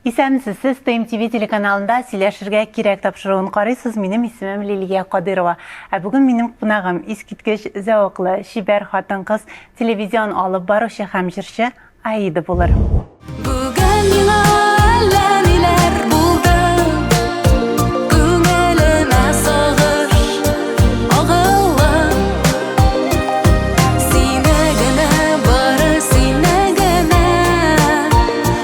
Исәнмесез, сез Пэм ТВ телеканалында Сөйләшергә кирәк тапшыруын карыйсыз, минем исемем Лилия Кадыйрова. Ә бүген минем кунагым, искиткеч зәвыклы, чибәр хатын-кыз, телевизион алып баручы һәм җырчы Аида булыр.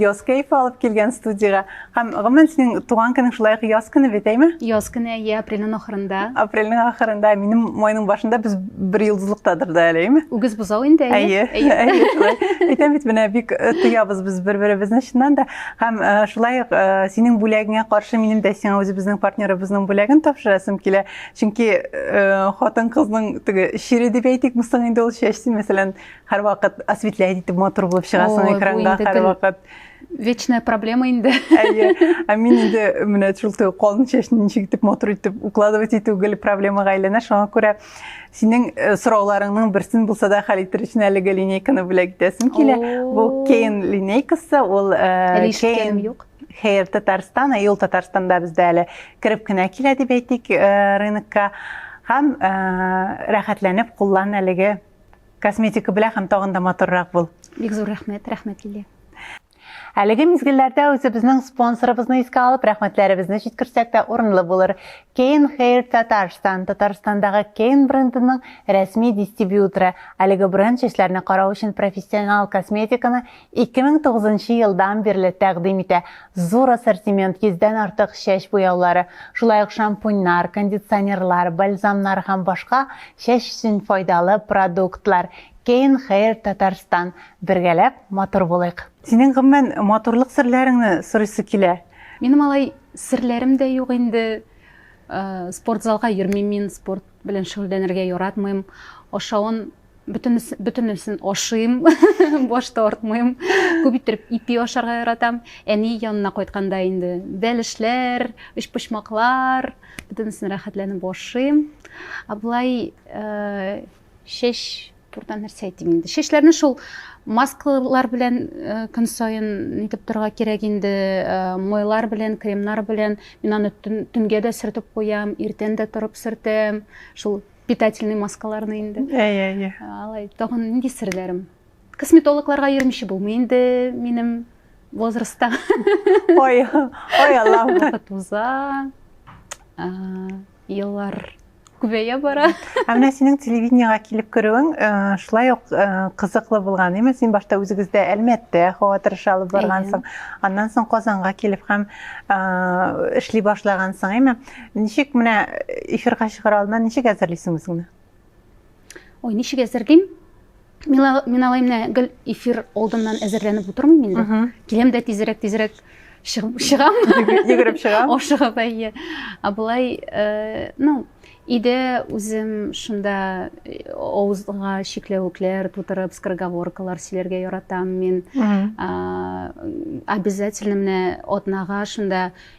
Яз кәефе алып килгән студиягә. Һәм гомумән синең туган көнең шулай ук яз көне бит, әйме? Яз көне, әйе, апрельнең ахырында. Апрельнең ахырында, минем майның башында без бер йолдызлыктадыр да әле, әйме? Үгез бозау инде, әйе. Әйе, әйе, шулай. Әйтәм бит, менә бик э, тоябыз без бер-беребезне чыннан да. Һәм э, шулай ук э, синең бүләгеңә каршы минем дә сиңа үзебезнең партнерыбызның бүләген тапшырасым килә. Чөнки хатын-кызның теге чире дип әйтик, мустың инде ул чәчте, мәсәлән, Һәрвакыт осветлять итеп матур булып чыгасың экранга һәрвакыт. Вечная проблема инде. Әйе. Ә мин инде менә шул төр калын чәчне ничек итеп матур итеп укладывать итү гел проблемага әйләнә. Шуңа күрә синең э, сорауларыңның берсен булса да хәл итер өчен әлеге линейканы бүләк итәсем килә. Бу Кейн линейкасы, ул э, Кейн юк. Хәер, Татарстан, ә ел Татарстанда бездә әле кереп кенә килә дип әйтик э, рынокка. Һәм рәхәтләнеп куллан әлеге Косметика белән һәм тагын да матуррак бул. Бик зур рәхмәт, рәхмәт Лилия. Әлеге мизгелләрдә үзебезнең спонсорыбызны искә алып, рәхмәтләребезне җиткерсәк тә урынлы булыр. Кейн Хейр Татарстан, Татарстандагы Кейн брендының рәсми дистрибьюторы. Әлеге бренд чәчләрне карау өчен профессионал косметиканы 2009 нчы елдан бирле тәкъдим итә. Зур ассортимент, 100 дән артык чәч буяулары, шулай ук шампуньнар, кондиционерлар, бальзамнар һәм башка чәч өчен файдалы продуктлар. Kein Hair Tatarstan, бергәләп матур булыйк! Синең гомумән матурлык серләреңне сорыйсы килә. Минем алай серләрем дә юк инде. Спортзалга йөрмим мин, спорт белән шөгыльләнергә яратмыйм. Ашавын бөтенесен ашыйм баш тартмыйм күп иттереп ипи ашарга яратам әни янына кайтканда инде бәлешләр өчпочмаклар бөтенесен рәхәтләнеп ашыйм ә болай э, чәч турыда нәрсә әйтим инде чәчләрне шул маскалар белән э, көн саен нитеп торырга кирәк инде э, майлар белән кремнар белән мин аны төнгә дә сөртеп куям иртән дә торып сөртәм шул питательный маскаларны инде әйе әйе алай тагын нинди серләрем косметологларга йөрмичә булмый инде минем возрастта ой ой аллам вакыт уза еллар күбәя бара ә менә синең телевидениега килеп керүең э, шулай ук э, кызыклы булган әйме син башта үзегездә әлмәттә һава торышы алып баргансың аннан соң казанга килеп һәм э, эшли башлагансың әйме Ничек менә эфирга чыгар алдыннан ничек әзерлисең үзеңне? Ой, ничек әзерлим? Мин алай менә гел эфир алдыннан әзерләнеп утырмыйм инде. Киләм дә тизрәк тизрәк чыгам. Йөгереп чыгам. Ашыгып әйе. Ә болай, э, ну, иде үзем шунда э, авызга чикләвекләр тутырып, скороговоркалар сөйләргә яратам мин. Обязательно менә атнага шунда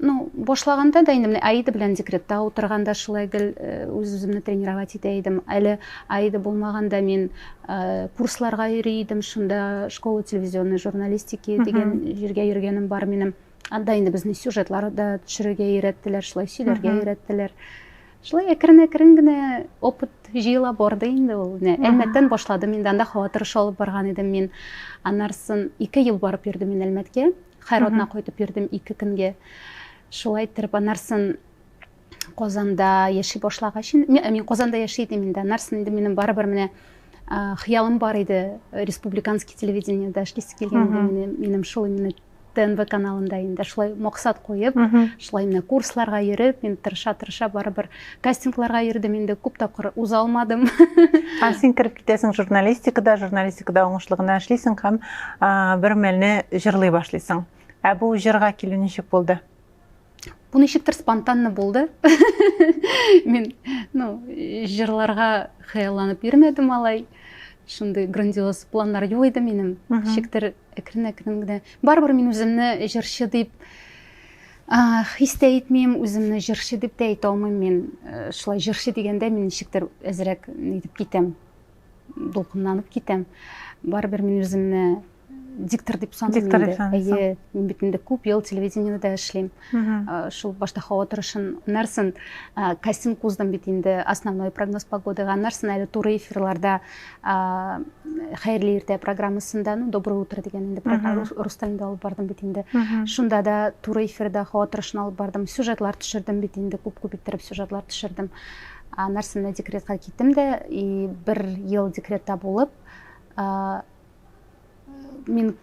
Ну, башлаганда да инде менә Аида белән декретта утырганда шулай гел э, үз-үземне тренировать итә идем. Әле Аида булмаганда мин э, курсларга йөри идем, шунда школа телевизионной журналистики дигән җиргә йөргәнем бар минем. Анда инде безне сюжетлар да төшерергә өйрәттеләр, шулай сөйләргә өйрәттеләр. Шулай әкрен-әкрен генә опыт җыела барды инде ул. Менә Әлмәттән башладым инде, анда һава торышы алып барган идем мин. Аннарсын ике ел барып йөрдем мин Әлмәткә. Хайродна кайтып йөрдем ике көнгә. Шулай иттереп анарсын Казанда яши башлагач, мин Казанда яши идем инде. Анарсын инде минем барыбер менә хыялым бар иде республиканский телевидениеда эшлисе килгән инде минем шул именно тнв каналында инде шулай максат куеп шулай менә курсларга йөреп мин тырыша тырыша барыбер Кастингларга йөрдем инде, күп тапкыр уза алмадым. Ә син кереп китәсең журналистикада, журналистикада уңышлы гына эшлисең һәм бер мәлне җырлый башлыйсың. Ә бу җырга килү ничек булды? Бу ничектер спонтанно булды. Мин, ну, җырларга хыялланып йөрмәдем алай. Шундый грандиоз планнар юк иде минем. Ничектер әкрен-әкрен генә. Барыбер мин үземне җырчы дип Хис тә итмим, үземне җырчы дип тә әйтә алмыйм мин. Шулай җырчы дигәндә мин ничектер әзрәк нитеп китәм, дулкынланып китәм. Барыбер мин үземне диктор дип саныйм диктор дип саныйсың әйе мин бит инде күп ел телевидениеда эшлим шул башта һава торышын нәрсен кастинг уздым бит инде основной прогноз погодага нәрсен әле туры эфирларда хәерле иртә программасында ну доброе утро дигән инде программа рус телендә алып бардым бит инде шунда да туры эфирда һава торышын алып бардым сюжетлар төшердем бит инде күп күп иттереп сюжетлар төшердем нәрсәмне декретка киттем дә и бер ел декретта булып мин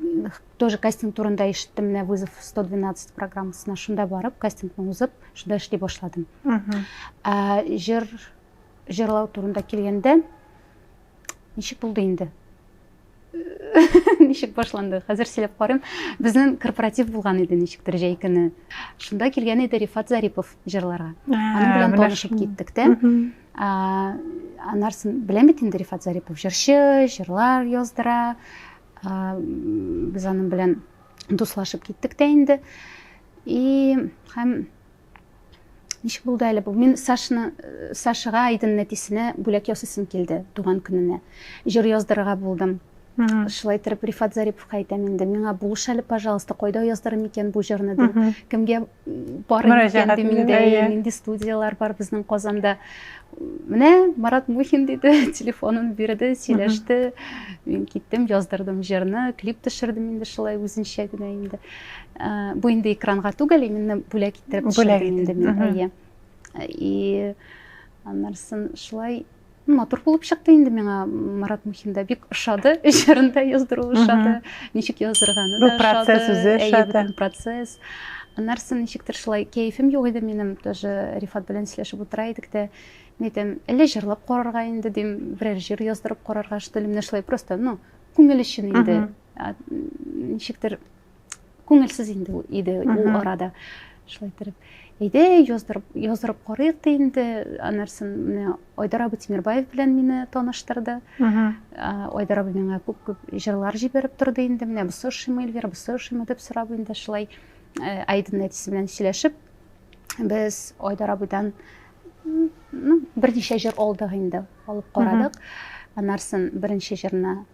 тоже кастинг турында ишеттем менә вызов 112 программасына шунда барып кастингны узып шунда эшли башладым җыр Җырлау турында килгәндә, ничек булды инде? ничек башланды? Хәзер сөйләп карыйм. Безнең корпоратив булган иде ничектер җәй көне. Шунда килгән иде Рифат Зарипов җырларга. Аның белән танышып киттек тә. Анарсын беләм бит инде Рифат Зарипов җырчы, җырлар яздыра. Без аның белән дуслашып киттек тә инде. И һәм Ничек булды әле бу? Мин Сашны, э, Сашыга Айдын нәтисенә бүләк ясыйсым килде туган көненә. Җыр яздырырга булдым. Шулай итеп Рифат Зариповка әйтәм инде, миңа булыш әле, пожалуйста, кайда яздырам икән бу җырны дип. Кемгә бар икән дим инде, нинди студияләр бар безнең Казанда. Менә Марат Мухин диде, телефонын бирде, сөйләште. Мин киттем, яздырдым җырны, клип төшердем инде шулай үзенчә генә инде. Бу инде экранга түгел, именно бүләк иттереп төшердем инде мин. Әйе. И аннарсын шулай матур булып чыкты инде миңа Марат Мухинда бик ошады, җырын да яздыру ошады, ничек яздырганы да ошады. Процесс үзе ошады. Процесс. Аннарсын ничектер шулай кәефем юк иде минем, тоже Рифат белән сөйләшеп утыра идек тә, мин әйтәм, әллә җырлап карарга инде дим, берәр җыр яздырып карарга, что ли, менә шулай просто, ну, күңел өчен инде. Ничектер күңелсез инде иде ул арада шулай иттереп әйдә яздырып яздырып карыйк та инде анарсын менә айдар абый тимербаев белән мине таныштырды айдар абый миңа күп күп җырлар җибәреп торды инде менә бусы ошыймы эльвира бусы ошыймы дип сорап инде шулай э, айдын әтисе белән сөйләшеп без айдар абыйдан ну берничә җыр алдык инде алып карадык анарсын беренче җырны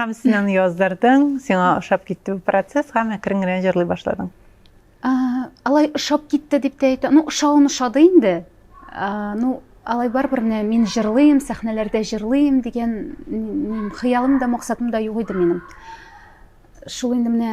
Һәм син аны яздырдың, сиңа ошап китте бу процесс һәм әкрен генә җырлый башладың. Алай ошап китте дип тә әйтә. Ну, ошавын ошады инде. Ну, алай барыбер менә мин җырлыйм, сәхнәләрдә җырлыйм дигән хыялым да, максатым да юк иде минем. Шул инде менә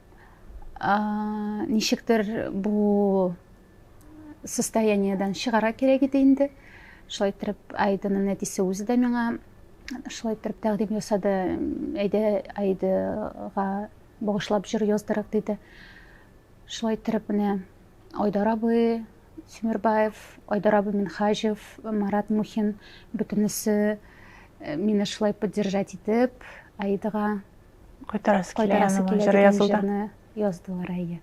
Ничектер бу состояниедән чыгара кирәк иде инде. Шулай итеп, Айданың әтисе үзе дә миңа шулай итеп тәкъдим ясады. Әйдә, Айдага багышлап җыр яздырык диде. Шулай итеп, менә Айдар абый Симирбаев, Айдар абый Минхаҗев, Марат Мухин бөтенесе э, мине шулай поддержать итеп, Айдага Кайтарасы килә янына җыр язуда. Яздылар, әйе.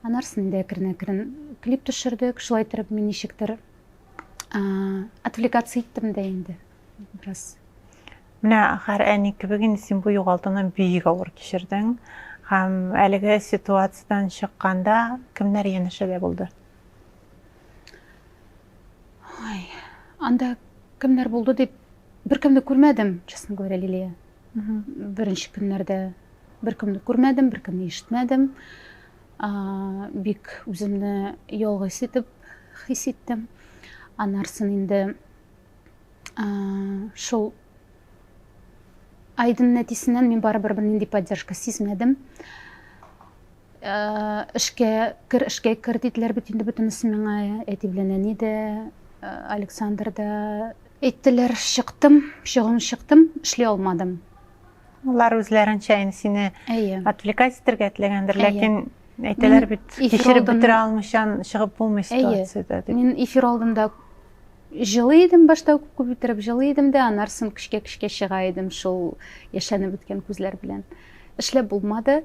Анарсын инде әкрен-әкрен. Клип төшердек, шулай итеп мин ничектер отвлекаться иттем дә инде бераз. Менә һәр әни кебек инде син бу югалтуны бик авыр кичердең. Һәм әлеге ситуациядан чыкканда кемнәр янәшәдә булды? Ой, анда кемнәр булды дип беркемне күрмәдем, честно говоря, Лилия. Беренче көннәрдә беркемне күрмәдем, беркемне ишетмәдем. Бик үземне ялгыз итеп хис иттем. Анарсын инде шул айдын нәтисеннән мин барыбер бернинди поддержка сизмәдем. Эшкә кер, эшкә кер диделәр бит инде бөтенесе миңа. Әти белән әни дә, Александр да. Әйттеләр, чыктым, чыгуым чыктым, эшли алмадым. Алар үзләренчә инде сине отвлекать итәргә теләгәндер, ләкин әйтәләр бит, кичереп бетерә алмыйча чыгып булмый ситуациядә дип. Мин эфир алдында жылы идем башта күп күп иттереп жылы идем дә аннан соң көчкә көчкә чыга идем шул яшәнеп беткән күзләр белән эшләп булмады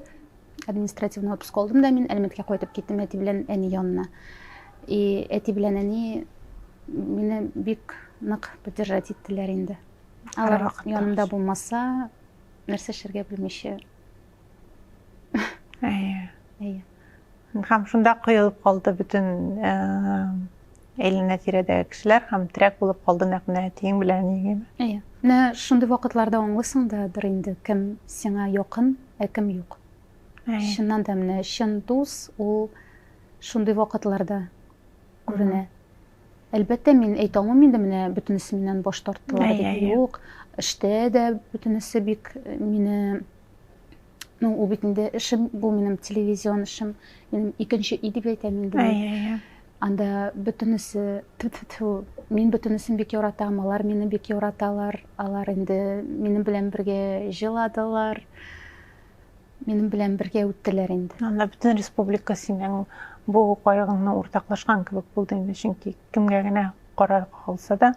Административный отпуск алдым да мин Әлмәткә кайтып киттем әти белән әни янына. И әти белән әни мине бик нык поддержать иттеләр инде. Алар янымда булмаса, нәрсә эшләргә белмичә. Әйе. Әйе. Һәм шунда коелып калды бөтен э, Әйләнә тирәдәге кешеләр һәм терәк булып калды нәкъ менә әтиең белән әниеңеме? Әйе. Менә шундый вакытларда аңлыйсың да дыр инде, кем сиңа якын, ә кем юк. Әйе. Чыннан да менә чын дус ул шундый вакытларда күренә. Угу. Әлбәттә, мин әйтә алмыйм инде менә бөтенесе миннән баш тарттылар дип. Юк, эштә дә бөтенесе бик мине Ну, ул бит инде эшем, бу минем телевизион эшем, минем икенче ил дип әйтәм инде. Әй, әй, әй. Анда бөтенесе, ту ту ту мин бөтенесен бик яратам, алар мине бик яраталар, алар инде минем белән бергә җыладылар, минем белән бергә үттеләр инде. Анда бөтен республика синең бу кайгыңны уртаклашкан кебек булды инде, чөнки кемгә генә кара калса да,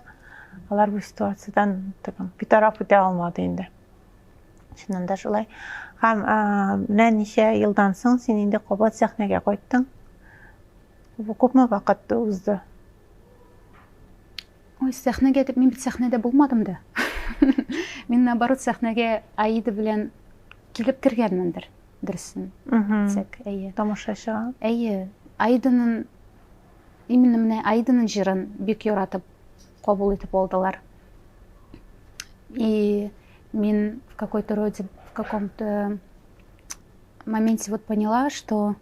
алар бу ситуациядән битараф итә алмады инде. Чыннан да шулай. Һәм менә ничә елдан соң син инде кабат сәхнәгә кайттың. Бу күпме вакыт узды? Ой, сәхнәгә дип мин бит сәхнәдә булмадым да. Мин наоборот сәхнәгә Аида белән килеп кергәнмендер, дөресен. Тик, әйе. Тамашачыга. Әйе. Аиданың именно менә Аиданың җырын бик яратып кабул итеп алдылар. И Мин в какой-то роде, в каком-то моменте вот поняла, что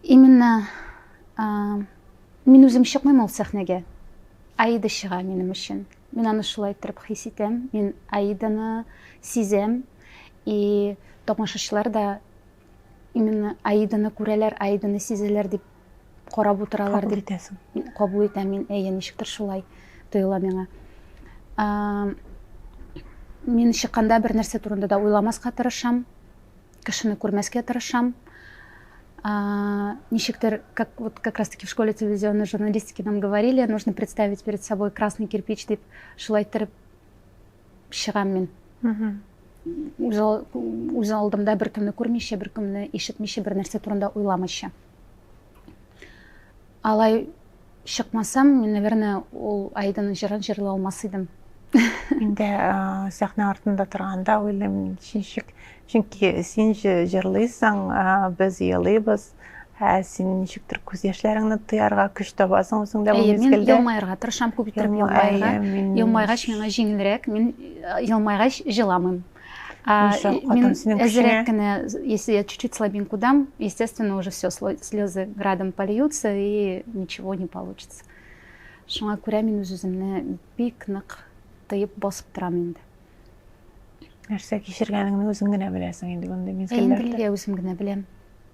именно а, мин үзем чыкмыйм ул сәхнәгә аида чыга минем өчен мин аны шулай иттереп хис итәм мин аиданы сизәм и тамашачылар да именно аиданы күрәләр аиданы сизәләр дип карап утыралар дип итәсең кабул итәм мин әйе ничектер шулай тоела миңа мин чыкканда бер нәрсә турында да уйламаска тырышам кешене күрмәскә тырышам ничектер как вот как раз таки в школе телевизионной журналистики нам говорили нужно представить перед собой красный кирпич дип шулай иттереп чыгам мин үз алдымда беркемне күрмичә беркемне ишетмичә бер нәрсә турында уйламыйча Алай чыкмасам, мин, наверное, ул Айданың җырын җырлый алмас идем. Инде сәхнә артында торганда уйлыйм, ничек, чөнки син җырлыйсың, без елыйбыз, ә син ничектер күз яшьләреңне тыярга көч табасың үзеңдә бу мизгелдә. Мин елмаерга тырышам, күп итеп елмаерга. Елмайгач миңа җиңелрәк, мин елмайгач җыламыйм. А, Мин әзерәк кенә, если я чуть-чуть слабинку дам, естественно, уже все, слезы градом польются и ничего не получится. Шуңа күрә мин үз-үземне бик нык тыеп басып торам инде. Нәрсә кичергәнеңне үзең генә беләсең инде мондый мизгелләрдә. Инде үзем генә беләм.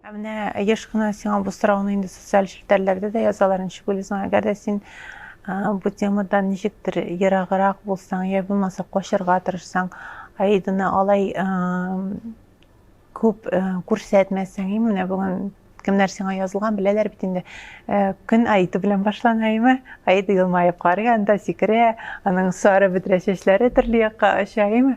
Ә менә еш кына сиңа бу сорауны инде социаль челтәрләрдә дә язалар, ничек уйлыйсың, әгәр дә син бу темадан ничектер ераграк булсаң, я булмаса качырга тырышсаң, Аиданы алай күп күрсәтмәсәң, менә бүген кемнәр сиңа язылган, беләләр бит инде, Э, көн Аида белән башлана име? Аида елмаеп карый анда, сикерә, аның сары бөдрә чәчләре төрле якка оча име?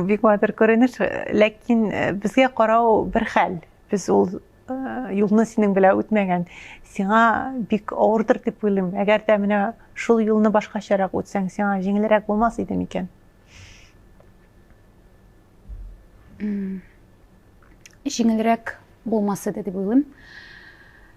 Бик матур күренеш, ләкин э, безгә карау бер хәл. Без ул э, юлны синең белән үтмәгән. Сиңа бик авырдыр дип уйлыйм. Әгәр дә менә шул юлны башкачарак үтсәң, сиңа җиңелрәк булмас иде микән? Җиңелрәк булмас иде дип уйлыйм.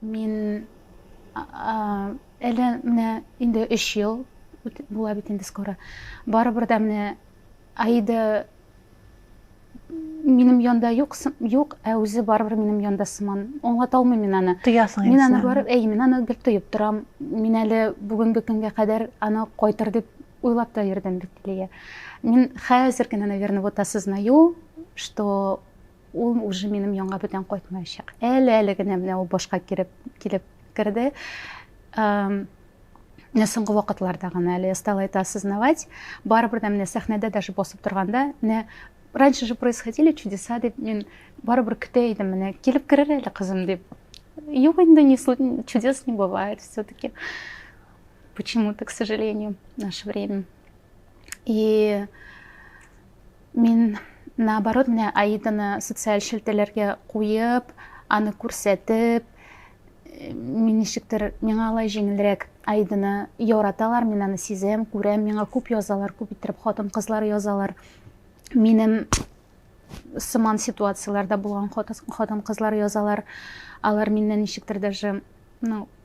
Мин әле менә инде 3 ел була бит инде скоро. Барыбер дә менә Аида минем янда юк, юк, ә үзе барыбер минем янда сыман. Аңлата алмыйм мин аны. Тоясың Мин аны барып, әй, мин аны бик тоеп торам. Мин әле бүгенге көнгә кадәр аны кайтыр дип Уйлап та йөрдем бит, Лия. Мин хәзер генә, наверное, вот осознаю, что ул уже минем янга бүтән кайтмаячак. Әле-әле генә менә ул башка киреп, килеп керде. Менә соңгы вакытларда гына әле я стала это осознавать. Барыбер дә менә сәхнәдә даже басып торганда, менә раньше же происходили чудеса дип мин барыбер көтә идем, менә килеп керер әле кызым дип. Юк инде, чудес не бывает все-таки. почему-то, к сожалению, в наше время. И мин, наоборот, менә Аиданы социаль шелтәләргә куеп, аны күрсәтеп, мин ничектер, миңа алай җиңелрәк Аиданы яраталар, мин аны сизәм, күрәм, миңа күп язалар, күп иттереп хатын-кызлар язалар. Минем сыман ситуацияләрдә булган хатын-кызлар язалар. Алар миннән ничектер даже, ну,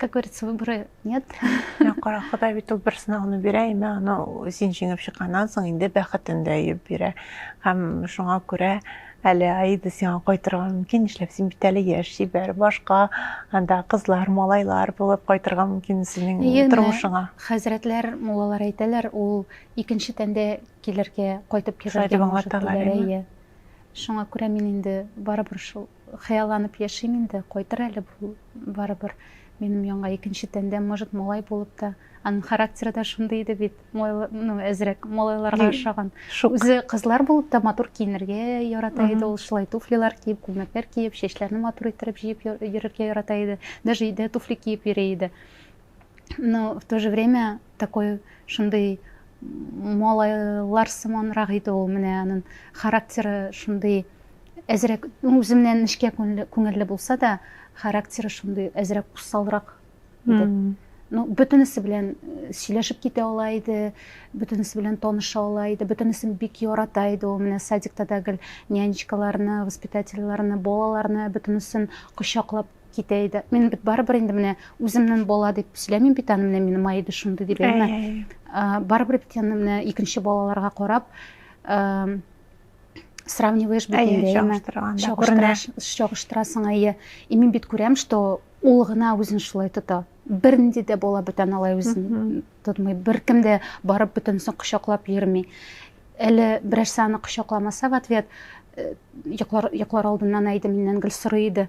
Как говорится, выбора нет. Кара Ходай бит ул бер сынауны бирә, әмма аны син җиңеп чыкканнан соң инде бәхетен дә йөп бирә. Һәм шуңа күрә әле Аида сиңа кайтырга мөмкин, нишләп син бит әле яшь чибәр, башка анда кызлар, малайлар булып кайтырга мөмкин синең тормышыңа. Хәзрәтләр, муллалар әйтәләр, ул икенче тәндә килергә, кайтып килергә. Шулай дип аңлаталар. Шуңа күрә мин инде барыбер шул Хыялланып яшим инде, кайтыр әле бу барыбер минем янга икенче тәндә, может малай булып та. Аның характеры да шундый иде бит, ну әзрәк малайларга ошаган. Үзе кызлар булып та матур киенергә ярата иде ул, шулай туфлилар киеп, күлмәкләр киеп, чәчләрне матур иттереп җыеп йөрергә ярата иде. Даже өйдә туфли киеп йөри иде. но в то же время такой шундый малайлар сыманрак иде ул менә анын характеры шундый әзрәк үземнән нечкә күңелле булса да характеры шундый әзрәк усалрак иде ну бөтенесе белән э, сөйләшеп китә ала иде бөтенесе белән таныша ала иде бөтенесен бик ярата иде ул менә садикта да гел нянечкаларны воспитательларны балаларны бөтенесен кочаклап Китә иде. Мин бит барыбер инде менә үземнен бала дип сөйләмим бит аны, менә минем айды шундый дип әйме. Барыбер бит аны менә икенче балаларга карап сравниваешь бит инде, әйме. Чагыштырасың, әйе. И мин бит күрәм, что ул гына үзен шулай тота. Бернинди дә бала бүтән алай үзен тотмый. Беркем дә барып бөтенесен кочаклап йөрми. Әле берәрсе аны кочакламаса в ответ, йоклар йоклар алдыннан әйде миннән гел сорый иде.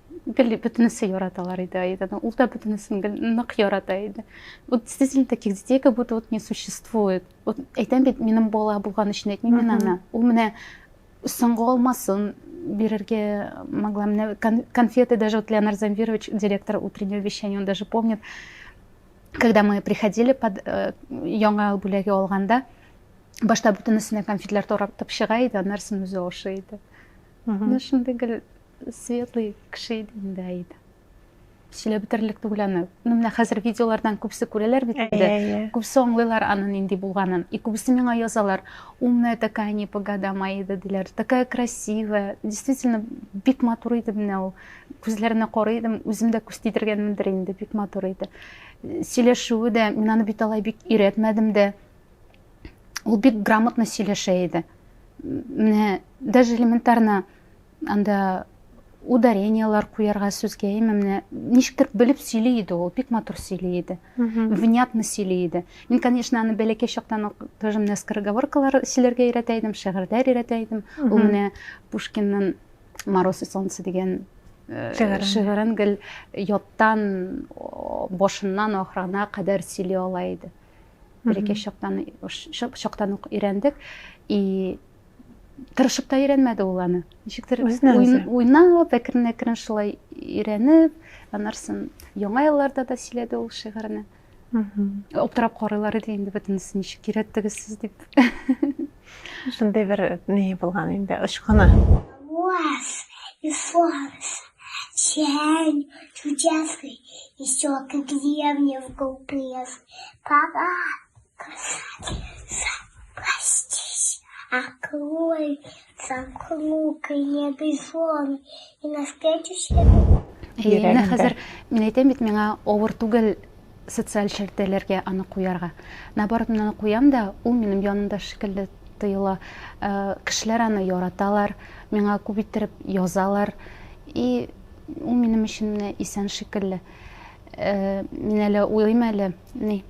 гел бөтенесе яраталар иде Аиданы. Ул да бөтенесен гел нык ярата иде. Вот действительно таких детей как будто вот не существует. Вот әйтәм бит, минем бала булган өчен әйтмим мин аны. Ул менә соңгы алмасын бирергә могла. Менә конфеты даже вот Леонард Замвирович, директор утреннего вещания, он даже помнит, когда мы приходили под э, яңа бүләге алганда, башта бөтенесенә конфетлар таратып чыга иде, аннарсын үзе ашый иде. Мхм. Ну, шундый гел светлый кеше иде инде Аида. Сөйләп бетерерлек түгел аны. Ну, менә хәзер видеолардан күбесе күрәләр бит инде. Иә, иә. Күбесе аңлыйлар аны нинди булганын. И күбесе миңа язалар, умная такая, не по годам Аида диләр. Такая красивая. Действительно, бик матур иде менә ул. Күзләренә карый идем, үзем дә күз тидергәнмендер инде, бик матур иде. Сөйләшүе дә, мин аны бит алай бик өйрәтмәдем дә. Ул бик грамотно сөйләшә иде. Менә даже элементарно Анда ударенияләр куярга сүзгә именно ничектер белеп сөйли иде ул бик матур сөйли иде внятно сөйли иде мин конечно аны бәләкәй чактан ук тоже менә скороговоркалар сөйләргә өйрәтә идем шигырьләр өйрәтә идем ул менә пушкинның мороз и солнце дигән э, шигырен гел яттан башыннан ахырына кадәр сөйли ала иде бәләкәй чактан чактан ук өйрәндек и тырышып та өйрәнмәде ул аны. Ничектер уйнап, әкрен-әкрен шулай өйрәнеп, анарсын яңа елларда да сөйләде ул шигырьне. Аптырап карыйлар иде инде бөтенесе ничек кирәттегез сез дип. Шундый бер ни булган инде очкыны. Вас и солнце, день чудесный, еще к деревне в глупые. Пора Менә хәзер мин әйтәм бит, миңа авыр түгел социаль челтәләргә аны куярга. Наоборот, мин аны куям да, ул минем янымда шикелле тоела. Э, кешеләр аны яраталар, миңа күп иттереп язалар. И ул минем өчен менә исән шикелле. Э, мин әле уйлыйм әле, ни,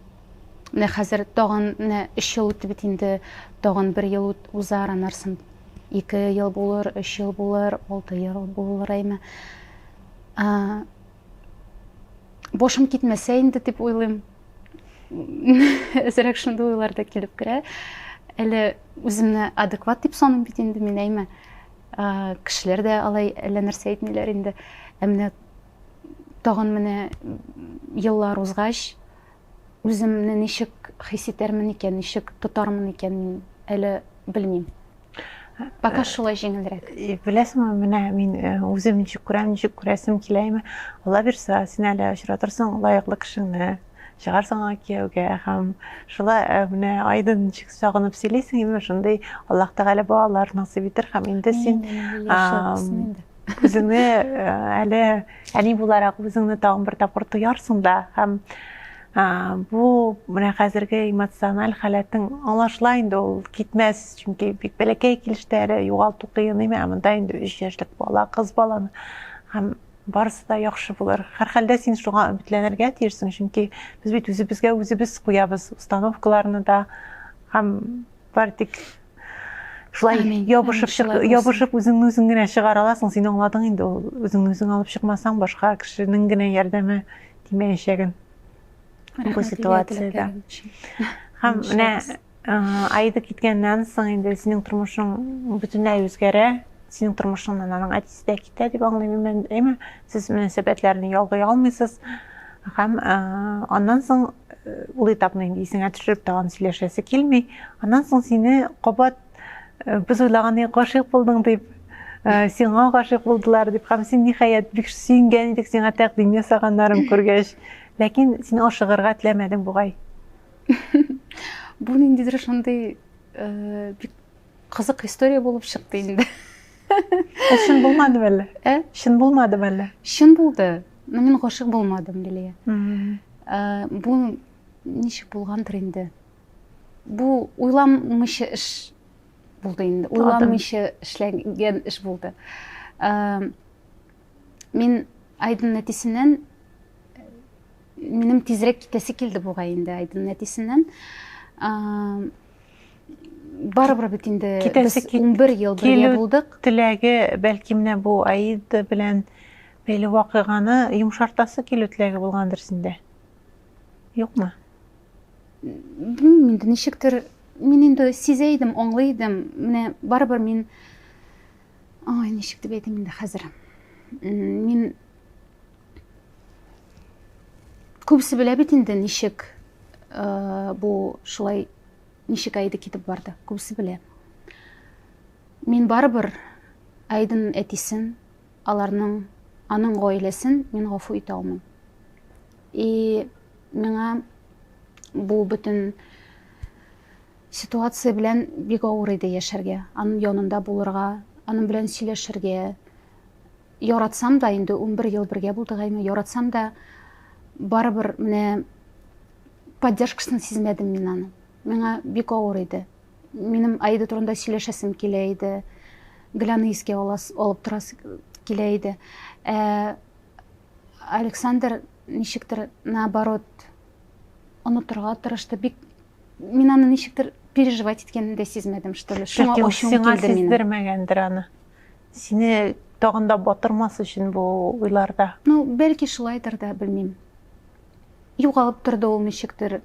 Менә хәзер тагын менә өч ел үтте бит инде, тагын бер ел узар, анарсын ике ел булыр, өч ел булыр, алты ел булыр әйме. Башым китмәсә инде дип уйлыйм. Әзерәк шундый уйлар да килеп керә. Әле үземне адекват дип саныйм бит инде мин әйме. Кешеләр дә алай әллә нәрсә әйтмиләр инде. Ә менә тагын менә еллар узгач, Үземне ничек хис итәрмен икән, ничек тотармын икән, мин әле белмим. Пока э, шулай җиңелрәк. Э, Беләсеңме, менә мин э, үзем ничек күрәм, ничек күрәсем киләме? Алла бирса, син әле очратырсың лаеклы кешеңне чыгарсың аңа кияүгә һәм шулай э, менә айдын ничек сагынып сөйлисең именно шундый аллаһ тәгалә балалар насыйп итер һәм инде син үзеңне э, әле әни буларак үзеңне тагын бер тапкыр тоярсың да һәм бу менә хәзерге эмоциональ халәтең аңлашыла инде ул китмәс чөнки бик бәләкәй килештә әле югалту кыен име ә монда инде өч яшьлек бала кыз баланы һәм барысы да яхшы булыр һәрхәлдә син шуңа өметләнергә тиешсең чөнки без бит үзебезгә үзебез куябыз установкаларны да һәм Бартик. Шулай ябышып чык, ябышып үзеңне үзең генә чыгара аласың, син аңладың инде ул. Үзеңне үзең алып чыкмасаң, башка кешенең генә ярдәме тимәячәген. Бу ситуациядә. Һәм менә Аида киткәннән соң инде синең тормышың бөтенләй үзгәрә. Синең тормышыңнан аның Сездә китә дип аңлыйм мин, әмма сез мөнәсәбәтләрне ялгый алмыйсыз. Һәм аннан соң ул этапны инде исеңә төшереп тагын сөйләшәсе килми. Аннан соң сине кабат без уйлаганы гашыйк булдың дип, сиңа гашыйк булдылар дип, һәм син ниһаять бик сөенгән идек сиңа тәкъдим ясаганнарын күргәч, ләкин син ашыгырга теләмәдең бугай. Бу ниндидер шундый бик Кызык история булып чыкты инде. Ул чын булмады әллә? Ә? Чын булмады әллә? Чын булды. Но мин гашык булмадым, Лилия. Ә, бу ничек булгандыр инде? Бу уйламыйча эш булды инде. Уйламыйча эшләгән эш булды. Ә, мин Айдын нәтисеннән минем тизрәк китәсе килде бугай инде Айдын нәтисеннән. Ә, барыбер бит инде без 11 ел бергә булдык. Теләге бәлки менә бу Аид белән бәйле вакыйганы йомшартасы килү теләге булгандыр синдә. Юкмы? Белмим инде ничектер мин инде сизә идем, аңлый идем. Менә барыбер мин Ой, ничек дип әйтим инде хәзер. Мин Күбесе белә бит инде ничек э, бу шулай ничек Әйде китеп барды. Күбесе белә. Мин барыбер Әйден әтисен, аларның аның гаиләсен мин гафу итә алмыйм. И миңа бу бөтен ситуация белән бик авыр иде яшәргә. Аның янында булырга, аның белән сөйләшергә, Яратсам да, инде унбер ел бергә булдык, әйме, яратсам да, барыбер менә поддержкасын сизмәдем мин аны. Миңа бик авыр иде. Минем Аида турында сөйләшәсем килә иде. Гөләне искә алас, алып торасы килә иде. Ә Александр ничектер наоборот онытырга тырышты. Бик мин аны ничектер переживать иткәнен дә сизмәдем, что ли. Шуңа ачуым килде минем. Сиңа сиздермәгәндер аны. Сине тагын да батырмас өчен бу уйларда. Ну, бәлки шулайдыр да, белмим. Югалып торды ул ничектер,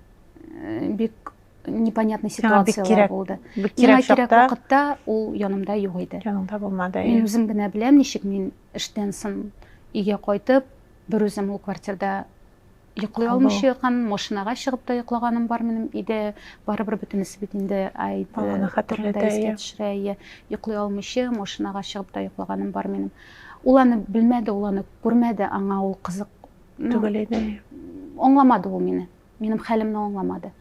э, бик непонятный ситуациялар булды. Бик кирәк чакта. вакытта ул янымда юк иде. Янымда булмады. Мин үзем генә беләм, ничек мин эштән соң өйгә кайтып, бер үзем ул квартирда Йоклый алмыйча яткан, машинага чыгып та йоклаганым бар минем өйдә. Барыбер бөтенесе бит инде әйт. Аны хәтерләтә ия. Йоклый алмыйча машинага чыгып та йоклаганым бар минем. Ул аны белмәде, ул аны күрмәде, аңа ул кызык түгел иде. Аңламады ул мине. Минем хәлемне аңламады.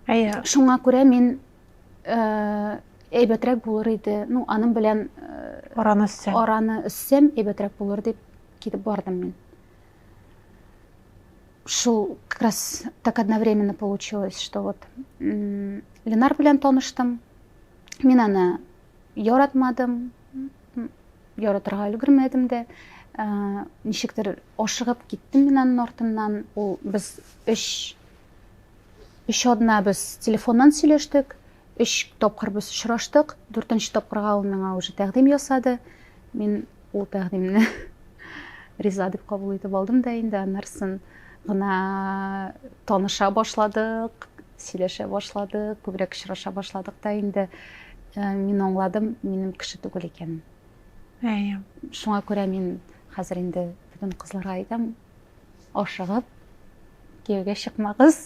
Әйе. Шуңа күрә мин э, әйбәтрәк булыр иде ну аның белән э, араны өссәм араны өссәм әйбәтрәк булыр дип китеп бардым мин Шул как раз так одновременно получилось, что вот Ленар белән таныштым. Мин аны яратмадым, яратырга өлгермәдем дә. Ә, ничектер ашыгып киттем мин аның артыннан. Ул без өч өч одна без телефоннан сөйләштек. Өч тапкыр без очраштык. Дүртенче тапкырга ул миңа уже тәкъдим ясады. Мин ул тәкъдимне риза дип кабул итеп алдым да инде, аннарсын гына таныша башладык, сөйләшә башладык, күбрәк очраша башладык та инде э, мин аңладым, минем кеше түгел икәнен. Әйе. Шуңа күрә мин хәзер инде бүтән кызларга әйтәм, ашыгып кияүгә чыкмагыз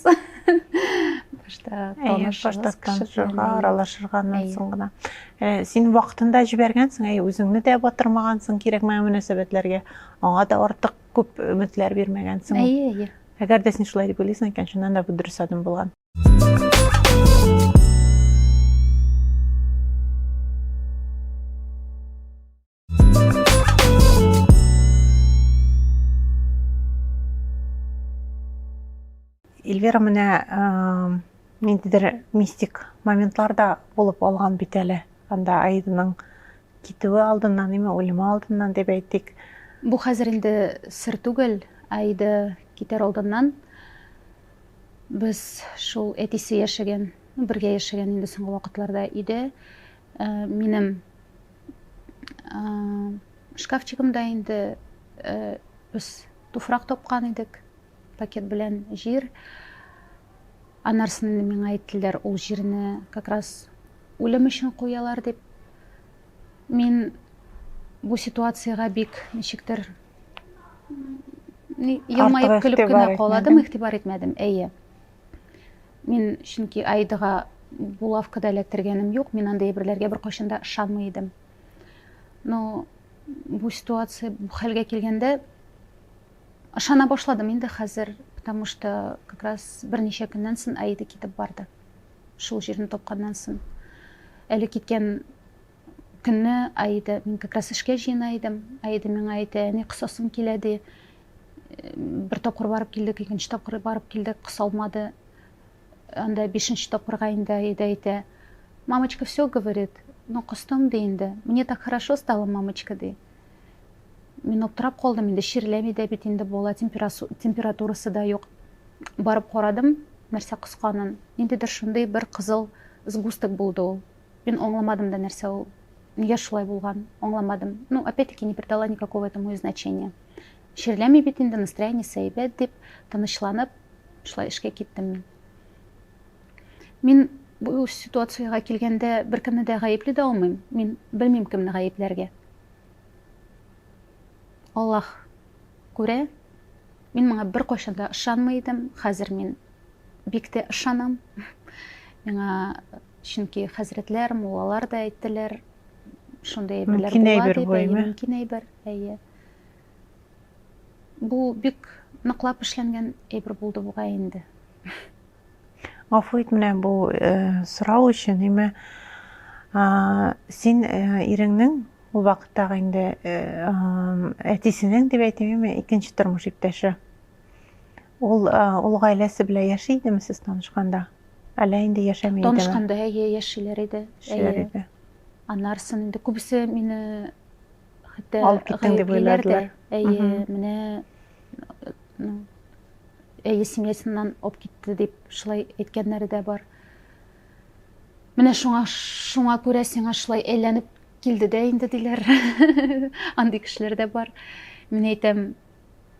башта танышыгыз танышырга аралашырганнан соң гына э, син вакытында җибәргәнсең әй үзеңне дә батырмагансың кирәкмәгән мөнәсәбәтләргә аңа да артык күп өметләр бирмәгәнсең әйе әйе әгәр дә син шулай дип уйлыйсың икән чыннан да бу дөрес адым булган Эльвира менә ниндидер мистик моментларда булып алган бит әле. Анда Аиданың китүе алдыннан, неме үлеме алдыннан дип әйтик. Бу хәзер инде сер түгел. Аида китәр алдыннан без шул әтисе яшәгән, бергә яшәгән инде соңгы вакытларда өйдә минем шкафчигымда инде без туфрак тапкан идек пакет белән җир анарсын миңа әйттеләр ул җирне как раз үлем өчен куялар дип мин бу ситуациягә бик ничектер елмаеп көлеп кенә каладым игътибар итмәдем әйе Мин чөнки Аидага булавка да эләктергәнем юк, мин андый әйберләргә беркайчан да ышанмый идем. Но бу ситуация бу хәлгә килгәндә ышана башладым инде хәзер, потому что как раз берничә көннән соң Аида китеп барды. Шул җирне тапканнан соң. Әле киткән Көнне Аида, мин как раз эшкә җыена идем, Аида миңа әйтә, әни косасым килә, ди. Бер тапкыр барып килдек, икенче тапкыр барып килдек, кысалмады. Анда бишенче тапкырга инде Аида әйтә, мамочка все говорит, ну костым, ди инде, мне так хорошо стало, мамочка, ди. Мин аптырап калдым инде, чирләми дә бит инде бала, температурасы да юк. Барып карадым, нәрсә косканын, ниндидер шундый бер кызыл сгусток булды ул. Мин аңламадым да нәрсә ул, нигә шулай булган, аңламадым. Ну, опять-таки, не придала никакого этому и значения. Чирләми бит инде, настроение сәйбәт дип, тынычланып, шулай эшкә киттем мин. Мин бу ситуацияга килгәндә беркемне дә гаепли дә алмыйм. Мин белмим кемне гаепләргә. Аллаһ күрә. Мин моңа беркайчан да ышанмый идем. Хәзер мин бик тә ышанам. Миңа Чөнки хәзрәтләр, муллалар да әйттеләр, шундый әйберләр була дип, әйе, мөмкин әйбер, әйе. Бу бик ныклап эшләнгән әйбер булды буга инде. Гафу ит менә бу э, сорау өчен, әмма син э, иреңнең ул вакыттагы инде э, әтисенең дип әйтим, икенче тормыш иптәше. Ул ул гаиләсе белән яши идеме сез танышканда? Әллә инде яшәми идеме? Танышканда әйе, яшиләр иде. Яшиләр иде. Аннарысын инде күбесе мине хәтта алып киттең дип уйладылар. Әйе, менә ну, әйе семьясыннан алып китте дип шулай әйткәннәре дә бар. Менә шуңа шуңа күрә сиңа шулай әйләнеп килде дә инде диләр. Андый кешеләр дә бар. Мин әйтәм,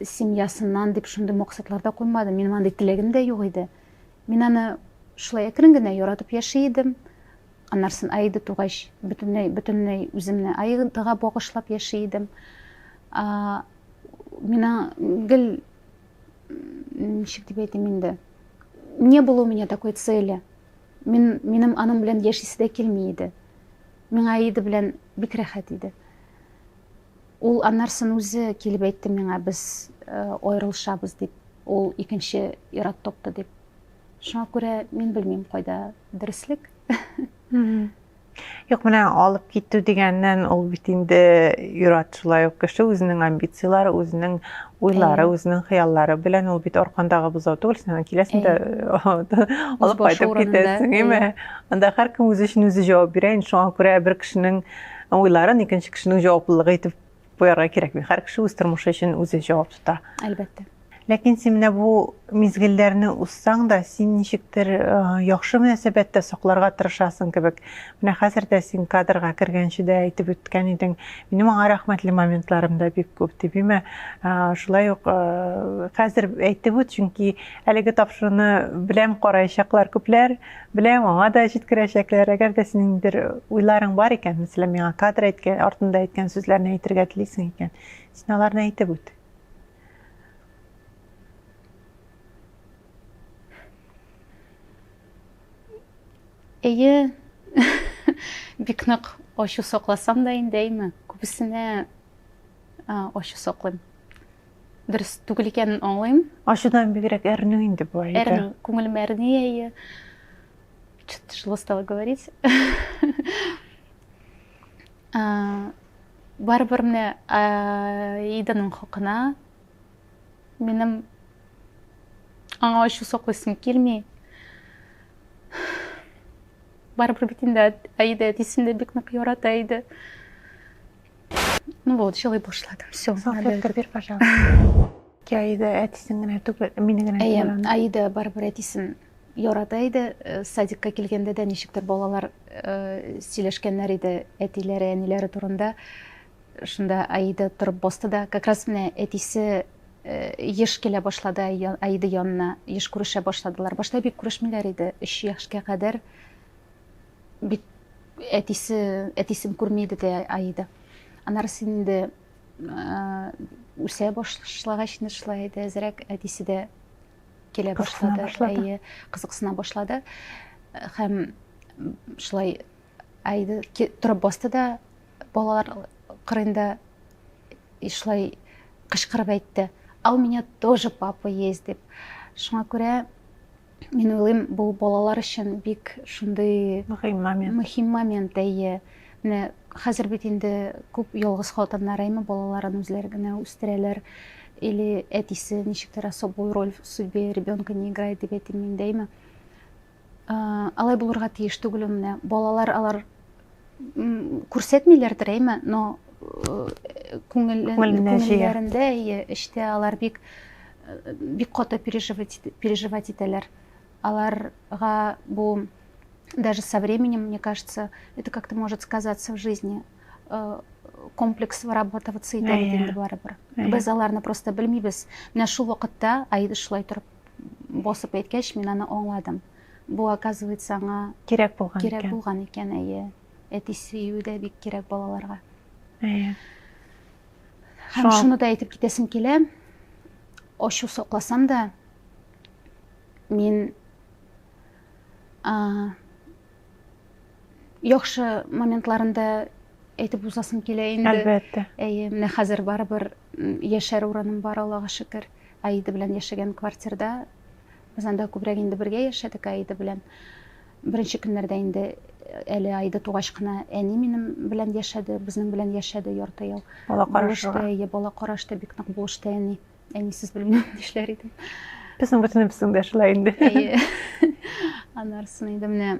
Семьясыннан дип шундый максатлар да куймадым, минем андый теләгем дә юк иде. Мин аны шулай әкрен генә яратып яши идем. Аннарсын Аида тугач, бөтенләй, бөтенләй үземне Аидага багышлап яши идем. Мина гел, ничек дип әйтим инде, не было у меня такой цели. Мин, минем аның белән яшисе дә килми иде. Миңа Аида белән бик рәхәт иде. Ул аннарсын үзе килеп әйтте миңа, без аерылышабыз дип, ул икенче ир-ат топты дип. Шуңа күрә мин белмим кайда дөреслек. Юк, менә алып китү дигәннән ул бит инде юрат шулай ук кеше үзенең амбицияләре, үзенең уйлары, үзенең хыяллары белән ул бит аркандагы бозау түгел, син киләсең дә алып кайтып китәсең, әйме? Анда һәркем үзе өчен үзе җавап бирә, шуңа күрә бер кешенең уйларын икенче кешенең җаваплылыгы итеп куярга кирәкми. Һәр кеше үз тормышы өчен үзе җавап тота. Әлбәттә. Ләкин син менә бу мизгелләрне узсаң да, син ничектер яхшы мөнәсәбәттә сакларга тырышасың кебек. Менә хәзер дә син кадрга кергәнче дә әйтеп үткән идең, минем аңа рәхмәтле моментларым да бик күп дип. Имә шулай ук хәзер әйтеп үт, чөнки әлеге тапшыруны беләм караячаклар күпләр. Беләм, аңа да җиткерәчәкләр. Әгәр дә синең бер уйларың бар икән, мәсәлән, миңа кадр әйткән, артында әйткән сүзләрне әйтергә телисең икән, син аларны әйтеп үт. Әйе, бик нык ачу сакласам да инде, әйме, күбесенә ачу саклыйм. дөрес түгел икәнен аңлыйм ачудан бигрәк әрнү инде бу әйдә әрнү күңелем әрни әйе что то тяжело стало говорить барыбер менә иданың хакына минем аңа ачу саклыйсым килми барыбер бит инде әйдә әтисен дә бик нык ярата иде Ну вот, жылый башладым. Все. Салфетка бир, пожалуйста. Аида әтисен генә түгел, мине генә. Әйе, Аида барыбер әтисен ярата иде. Э, садикка килгәндә дә ничектер балалар э, сөйләшкәннәр иде әтиләре, әниләре турында. Шунда Аида торып басты да, как раз менә әтисе Э, еш килә башлады Аида янына, еш күрешә башладылар. Башта бик күрешмиләр иде. Өч яшькә кадәр Бит әтисе, әтисен күрми иде дә Аида. Анар инде үсә башлагач инде шулай иде, әзрәк әтисе дә килә башлады. Әйе, кызыксына башлады. Хәм шулай Аида торып басты да балалар кырында шулай кычкырып әйтте. А у меня тоже папа есть дип. Шуңа күрә Мин уйлыйм, бу балалар өчен бик шундый мөһим момент. Мөһим момент, әйе. Менә хәзер бит инде күп ялгыз хатыннар әйме балаларын үзләре генә үстерәләр. Или әтисе ничектер особую роль в судьбе ребенка не играет дип әйтим мин дә әйме. Алай булырга тиеш түгел менә балалар алар күрсәтмиләр әйме но э, күңелләрендә эчтә алар бик э, бик каты переживать переживать итәләр аларга бу даже со временем мне кажется это как то может сказаться в жизни э, комплекс вырабатываться итә бит инде барыбер без аларны просто белмибез менә шул вакытта аида шулай торып басып әйткәч мин аны аңладым Бу, оказывается, аңа кирәк булган икән. Кирәк булган икән, әйе. Әти сөю дә бик кирәк балаларга. Әйе. Һәм шуны да әйтеп китәсем килә. Ачу сокласам да, мин яхшы моментларында әйтеп узасым килә инде. Әлбәттә. Әйе, менә хәзер барыбер яшәр урыным бар, Аллага шөкер. Аида белән яшәгән квартирда Без анда күбрәк инде бергә яшәдек Аида белән. Беренче көннәрдә инде әле Аида тугач кына әни минем белән яшәде, безнең белән яшәде ярты ел. Бала карашты, әйе, бала карашты, бик нык булышты әни. Әнисез белмим нишләр идем. Безнең бөтенебезнең дә шулай инде. Әйе. Анарсын инде менә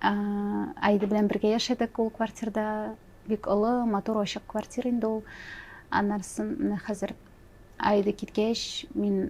Аида белән бергә яшәдек ул квартирда. Бик олы, матур, ачык квартира инде ул. Анарсын менә хәзер Аида киткәч, мин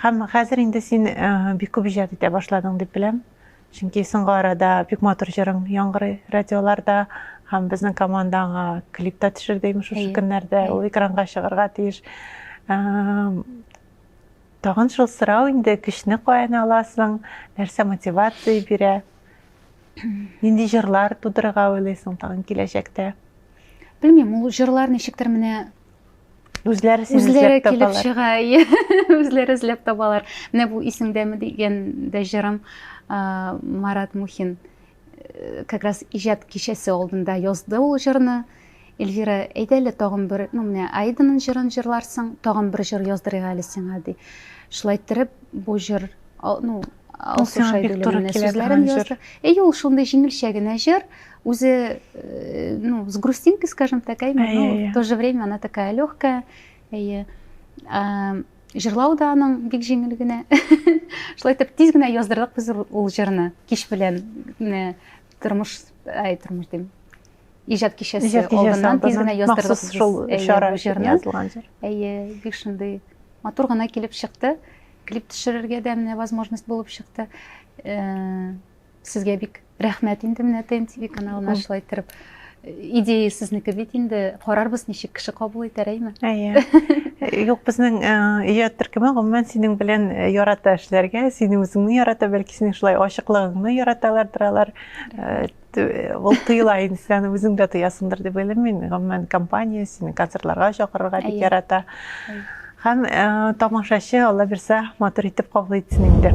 Һәм хәзер инде син бик күп иҗат итә башладың дип беләм. Чөнки соңгы арада бик матур җырың яңгырый радиоларда һәм безнең команда аңа клип та төшерде имеш шушы көннәрдә. Ул экранга чыгарга тиеш. Тагын шул сорау инде, көчне каян аласың, нәрсә мотивация бирә? Нинди җырлар тудырырга уйлыйсың тагын киләчәктә? Белмим, ул җырлар ничектер менә үзләре сине үзләре килеп чыга үзләре эзләп табалар менә бу исеңдәме дигән дә җырым марат мухин э, как раз иҗат кичәсе алдында язды ул җырны эльвира әйдә әле тагын бер ну менә айданың җырын җырларсың тагын бер җыр яздырыйк әле сиңа ди шулай иттереп бу җыр ну Алсу Шәйдуллина сүзләрен язды. Әй, ул шундый җиңелчә генә җыр, үзе, э, ну, с грустинкой, скажем так, әйме, но в то же время она такая легкая. Әйе. Җырлау да аның бик җиңел генә. Шулай итеп тиз генә яздырдык без ул җырны. Кич белән тормыш, ай, тормыш дим. Иҗат кичәсе алдыннан тиз генә яздырдык. Махсус шул чара җырны. Әйе, бик шундый матур гына килеп чыкты. Клип төшерергә дә менә возможность булып чыкты. Э, сезгә бик рәхмәт инде менә ТМТВ каналына шулай иттереп идея сезнеке бит инде карарбыз ничек кеше кабул итәр әйме әйе юк безнең иҗат төркеме гомумән синең белән ярата эшләргә син үзеңне ярата бәлки синең шулай ачыклыгыңны яраталардыр алар ул тыела инде сен үзең дә тоясыңдыр дип уйлыйм мин гомумән компания сине концертларга чакырырга бик ярата һәм тамашачы алла бирсә матур итеп кабул итсен инде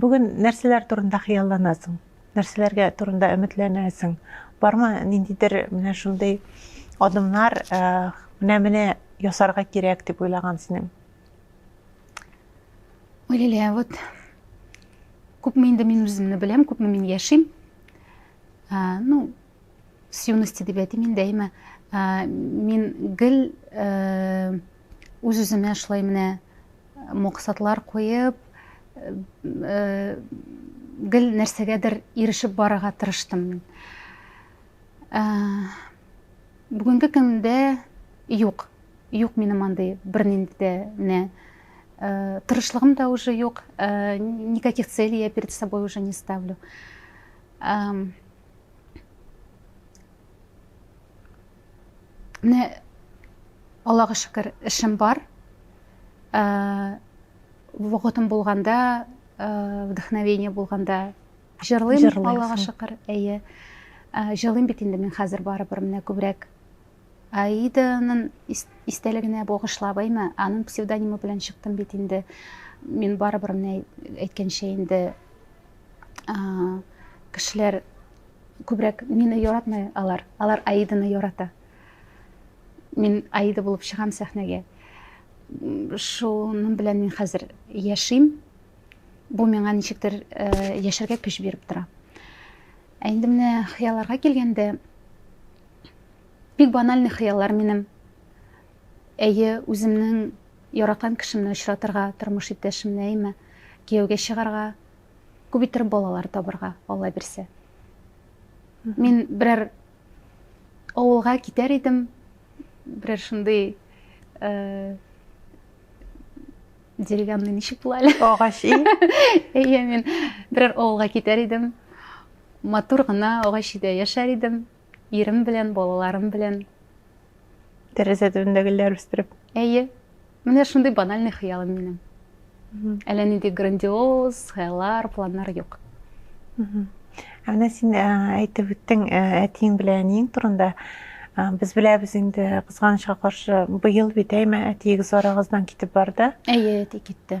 Бүген нәрсәләр турында хыялланасың? Нәрсәләргә турында өметләнәсең? Бармы ниндидер менә шундый адымнар, менә-менә ясарга кирәк дип уйлаган синең? Ой, Лилия, вот күпме инде мин үземне беләм, күпме мин яшим. Ну, с юности дип әйтим инде әйме мин гел үз үземә шулай менә максатлар куеп гел нәрсәгәдер ирешеп барырга тырыштым мин бүгенге көндә юк юк минем андый бернинди дә менә тырышлыгым да уже юк никаких целей я перед собой уже не ставлю Менә Аллага шөкер, эшем бар. Ә, вакытым булганда, ә, вдохновение булганда җырлыйм, Җырлыйсың. Аллага шөкер. Әйе. Ә, җырлыйм бит инде мин хәзер барыбер менә күбрәк. Аиданың ис- истәлегенә багышлап, әйме, аның псевдонимы белән чыктым бит инде. Мин барыбер менә әйткәнчә инде кешеләр күбрәк мине яратмый алар алар аиданы ярата мин аида булып чыгам сәхнәгә шуның белән мин хәзер яшим бу миңа ничектер э, яшәргә көч биреп тора ә инде менә хыялларга килгәндә бик банальный хыяллар минем Әйе, үземнең яраткан кешемне очратырга, тормыш иптәшемне, әйме, кияүгә чыгарга, күп иттереп балалар табырга, Алла бирсә. Мин берәр авылга китәр идем, берәр шундый э, деревянный ничек була әле? Агач ие. Әйе, мин берәр авылга китәр идем. Матур гына агач өйдә яшәр идем. Ирем белән, балаларым белән. Тәрәзә төбендә гөлләр үстереп. Әйе. Менә шундый банальный хыялым минем. Әллә нинди грандиоз хыяллар, планнар юк. Ә менә син әйтеп үттең әтиең белән әниең турында. Без беләбез инде кызганычка каршы быел бит әйме әтиегез арагыздан китеп барды. Әйе, әти китте.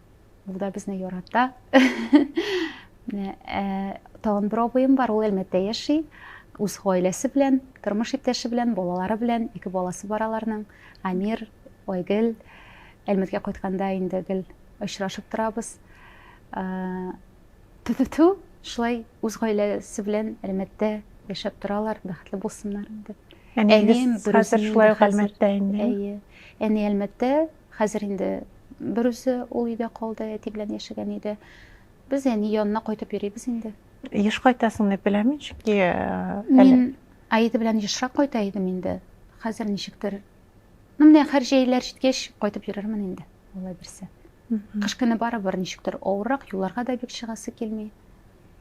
Ул да безне ярата. Э, тагын бер абыем бар, ул Әлмәттә яши. Үз гаиләсе белән, тормыш иптәше белән, балалары белән, ике баласы бар аларның. Амир, Айгөл. Әлмәткә кайтканда инде гел очрашып торабыз. Э, Тү-тү-тү, шулай үз гаиләсе белән Әлмәттә яшәп торалар, бәхетле булсыннар инде. Әнием хәзер шулай Әлмәттә инде. Әйе. Әни Әлмәттә, Хәзер инде берүзе ул өйдә калды, әти белән яшәгән иде. Без әни янына кайтып йөрибез инде. Еш кайтасың дип беләмин, чөнки Мин Аида белән ешрак кайта идем инде. Хәзер ничектер. Ну, менә хәр җәйләр җиткәч, кайтып йөрермен инде, алла бирсә. Кыш көне барыбер ничектер авыррак, юлларга да бик чыгасы килми.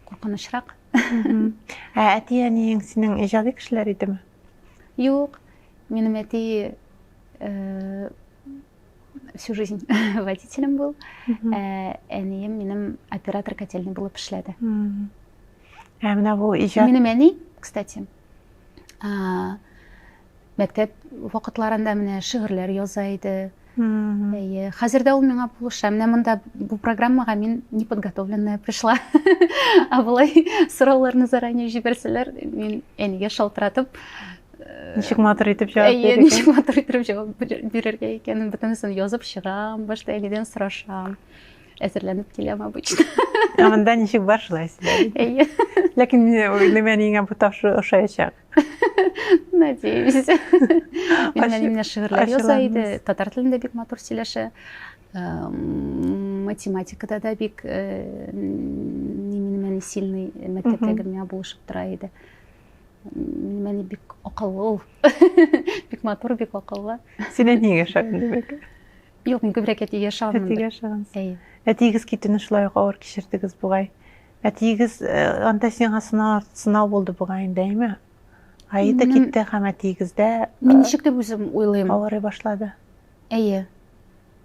Куркынычрак. Ә әти-әниең синең иҗади кешеләр идеме? Юк, минем әти э, всю жизнь водителем был. Э, әнием минем оператор котельный булып эшләде. Ә менә бу иҗат. Минем әни, кстати, мәктәп вакытларында менә шигырьләр яза иде. Әйе, хәзер дә ул миңа булыша. Менә монда бу программага мин неподготовленная пришла. Ә болай сорауларны заранее җибәрсәләр, мин әнигә шалтыратып э, Ничек матур итеп җавап бирергә? Әйе, ничек матур итеп җавап бирергә икәнен бөтенесен язып чыгам, башта әнидән сорашам. Әзерләнеп киләм обычно. Ә монда ничек бар шулай Әйе. Ләкин нимә ниңә бу тапшыру ошаячак? Надеюсь. Мин әниемне шигырьләр яза иде, татар телендә бик матур сөйләшә. Математикада да бик э, минем әни сильный мәктәптәге миңа булышып тора иде. Минем әни бик акыллы ул. Бик матур, бик акыллы. Син әниеңә ошаган димәк. Юк, мин күбрәк әтигә ошаганмын. Әтигә ошагансыз. Әтиегез китүне шулай ук авыр кичердегез бугай. Әтиегез анда сиңа сынау арт сынау булды бугай инде, әйме? Ае да китте һәм әтиегездә Мин ничек дип үзем уйлыйм? Авырый башлады. Әйе.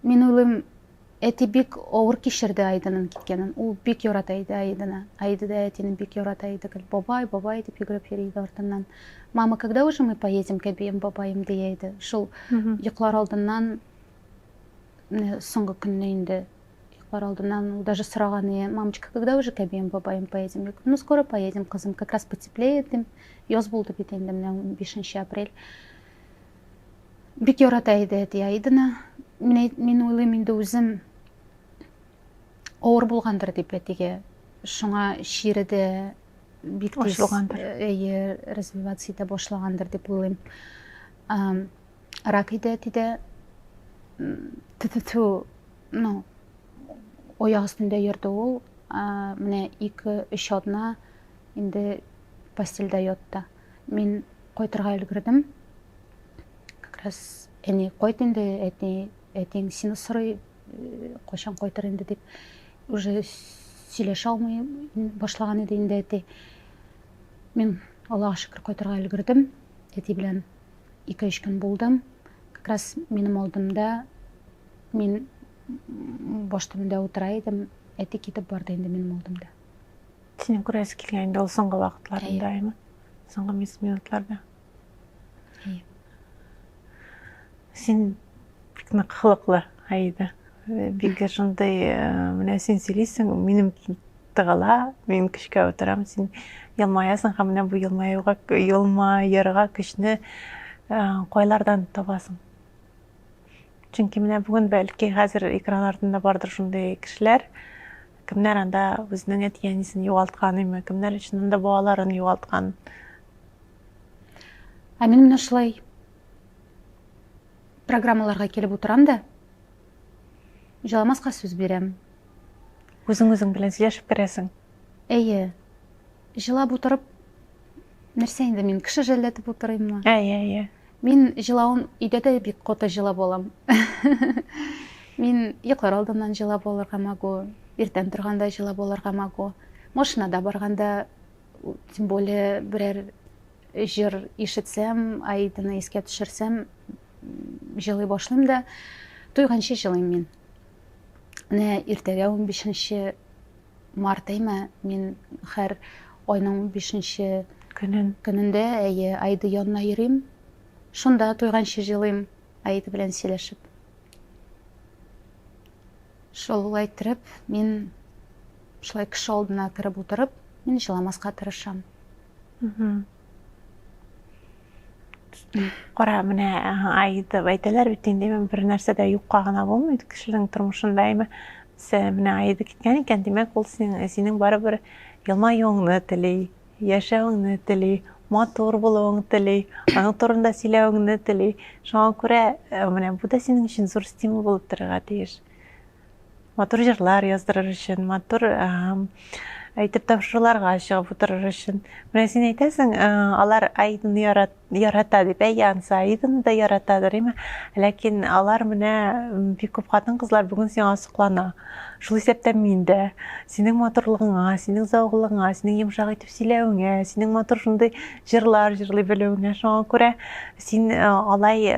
Мин уйлыйм, әти бик авыр кичерде Айдының киткәнен. Ул бик ярата иде Айдыны. Айда да әтине бик ярата иде. Гел бабай, бабай дип йөгереп йөри иде артыннан. Мама, когда уже мы поедем к обеим бабаем дия иде. Шул йоклар алдыннан менә соңгы көнне инде йоклар алдыннан ул даже сораган ие мамочка когда уже к обеим бабаем поедем ну скоро поедем кызым как раз потеплеет дим яз булды бит инде менә унбишенче апрель бик ярата иде әти айдыны мин, мин уйлыйм инде үзем авыр булгандыр дип әтигә шуңа чире дә бик тиз развиваться итә башлагандыр дип уйлыйм Ракыйдә әти дә тфу ну ояк өстендә йөрде ул менә ике өч атна инде постельдә ятты мин кайтырга өлгердем как раз әни кайт инде әти әтиң сине сорый кайчан кайтыр инде дип уже сөйләшә алмый башлаган иде инде әти мин аллага шөкер кайтырга өлгердем әти белән 2-3 көн булдым. Как раз минем алдымда мин баш төбендә утыра идем. Әти китеп барды инде минем алдымда. Синең күрәсе килгән инде ул соңгы вакытларында, әйме? Соңгы минутларда. Әйе. Син бик нык хылыклы, Аида. Бик шундый, менә син сөйлисең, минем Тыгыла, мин көчкә утырам, син елмаясың һәм менә бу елмаюга, елмаерга көчне кайлардан табасың? Чөнки менә бүген бәлки хәзер экран артында бардыр шундый кешеләр, кемнәр анда үзенең әти-әнисен югалткан име, кемнәр өчен анда балаларын югалткан. Ә мин менә шулай программаларга килеп утырам да, җыламаска сүз бирәм. Үзең үзең белән сөйләшеп керәсең. Әйе. Җылап утырып, нәрсә инде мин, кеше жәлләтеп утырыйммы? Әйе, әйе. Мин җылавын өйдә дә бик коты җылап алам. Мин йоклар алдыннан җылап алырга могу, иртән торганда җылап алырга могу. Машинада барганда, тем более, берәр җыр ишетсәм, Аиданы искә төшерсәм, җылый башлыйм да, туйганчы җылыйм мин. Менә иртәгә 15 март әйме, мин хәр айның 15 көнен көнендә әйе айды янына йөрим. Шунда туйганчы җылыйм айды белән сөйләшеп. Шулай иттереп, мин шулай кеше алдына кереп утырып, мин җыламаска тырышам. Кара, менә Аида әйтәләр бит инде, бер нәрсә дә юкка гына булмый кешенең тормышында. Әмма менә Аида киткән икән, димәк, ул синең, синең барыбер елмаюыңны тели, яшәвеңне тели, матур булуыңны тели, аның турында сөйләвеңне тели. Шуңа күрә менә бу да синең өчен зур стимул булып торырга тиеш. Матур җырлар яздырыр өчен, матур әйтеп тапшыруларга чыгып утырыр өчен. Менә син әйтәсең, алар Аиданы ярат, ярата дип, әй ансы Аиданы да яратадыр, име? Ләкин алар менә бик күп хатын-кызлар бүген сиңа соклана. Шул исәптән мин дә синең матурлыгыңа, синең зәвыклыгыңа, синең йомшак итеп сөйләвеңә, синең матур шундый җырлар җырлый белүеңә шуңа күрә син алай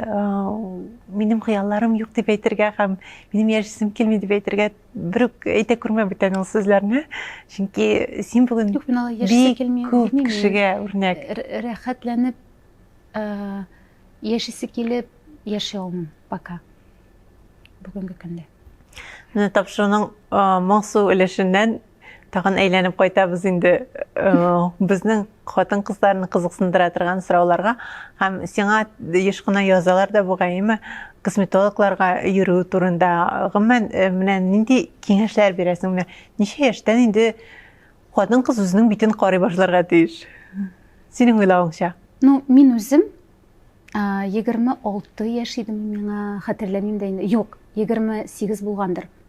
минем хыялларым юк дип әйтергә һәм Минем яшисем килми дип әйтергә бер үк әйтә күрмә бүтән ул сүзләрне. Чөнки син бүген Юк, мин алай яшисе килми. Күп кешегә үрнәк. Рәхәтләнеп яшисе килеп яши алмыйм пока. Бүгенге көндә. Менә тапшыруның моңсу өлешеннән Тагын әйләнеп кайтабыз инде безнең хатын-кызларны кызыксындыра торган сорауларга һәм сиңа еш кына язалар да бугайымы косметологларга йөрү турында. Гомумән, менә нинди киңәшләр бирәсең? Менә ничә яшьтән инде хатын-кыз үзенең битен карый башларга тиеш? Синең уйлавыңча? Ну, мин үзем 26 яшь идем, миңа хәтерләмим дә инде. Юк, 28 булгандыр.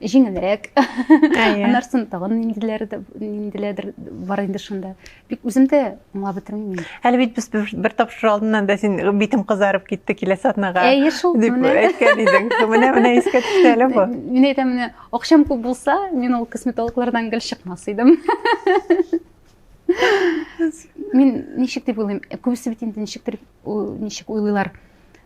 жеңелрәк аннары соң тагын ниндиләрдер бар инде шунда бик үзем дә аңлап бетермим әле бит без бер тапшыру алдыннан да син битем кызарып китте киләсе атнага әйе шул дип әйткән идең менә менә искә төште әле бу мин әйтәм менә акчам күп булса мин ул косметологлардан гел чыкмас идем мин ничек дип уйлыйм күбесе бит инде ничектер ничек уйлыйлар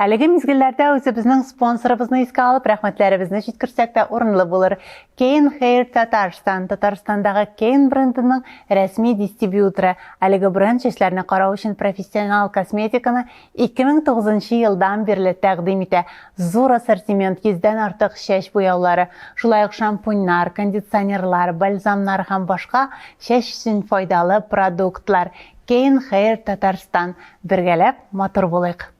Әлеге мизгелләрдә үзебезнең спонсорыбызны искә алып, рәхмәтләребезне җиткерсәк тә урынлы булыр. Кейн Хейр Татарстан, Татарстандагы Кейн брендының рәсми дистрибьюторы. Әлеге бренд чәчләрне карау өчен профессионал косметиканы 2009 елдан бирле тәкъдим итә. Зур ассортимент, йөздән артык чәч буяулары, шулай ук шампуньнар, кондиционерлар, бальзамнар һәм башка чәч өчен файдалы продуктлар. Кейн Хейр Татарстан, Бергәләп матур булыйк!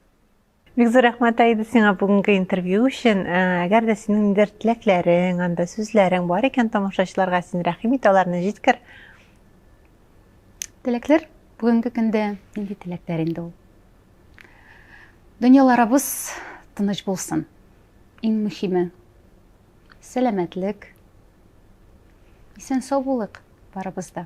Бик зур рәхмәт, Аида, сиңа бүгенге интервью өчен. Әгәр дә синең ниндидер теләкләрең, анда сүзләрең бар икән тамашачыларга, син рәхим ит, аларны җиткер. Теләкләр бүгенге көндә нинди теләкләр инде ул? Дөньяларыбыз тыныч булсын. Иң мөһиме сәламәтлек. Исән сау булыйк барыбыз да.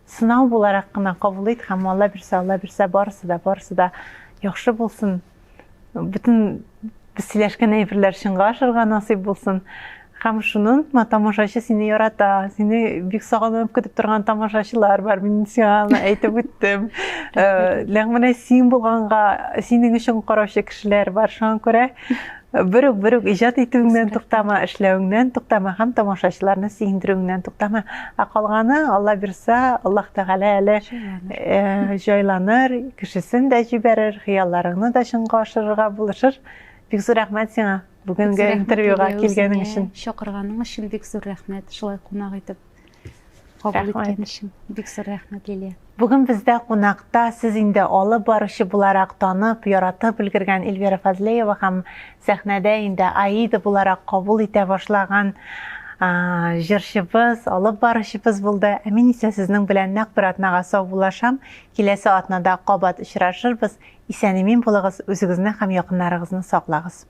Сынау буларак кына кабул ит һәм Алла бирсә, Алла бирсә, барысы да, барысы да яхшы булсын. Бөтен без сөйләшкән әйберләр чынга ашырга насыйп булсын. Һәм шуны онытма, тамашачы сине ярата, сине бик сагынып көтеп торган тамашачылар бар, мин сиңа әйтеп үттем. Ләкин менә син булганга, синең өчен караучы кешеләр бар, шуңа күрә Бер үк, бер үк иҗат итүеңнән туктама, эшләвеңнән туктама һәм тамашачыларны сөендерүеңнән туктама. Ә калганы, Алла бирса, Аллаһ Тәгалә әле э, җайланыр, кешесен дә җибәрер, хыялларыңны да чынга ашырырга булышыр. Бик зур рәхмәт сиңа бүгенге интервьюга килгәнең өчен. Чакырганың өчен бик зур рәхмәт, шулай кунак итеп. Кабул иткән өчен бик зур рәхмәт, Лилия. Бүген бездә кунакта сез инде алып баручы буларак танып, яратып өлгергән Эльвира Фазлеева һәм сәхнәдә инде Аида буларак кабул итә башлаган җырчыбыз, алып баручыбыз булды. Ә мин исә сезнең белән нәкъ бер атнага саубуллашам. Киләсе атнада кабат очрашырбыз. Исән-имин булыгыз, үзегезне һәм якыннарыгызны саклагыз.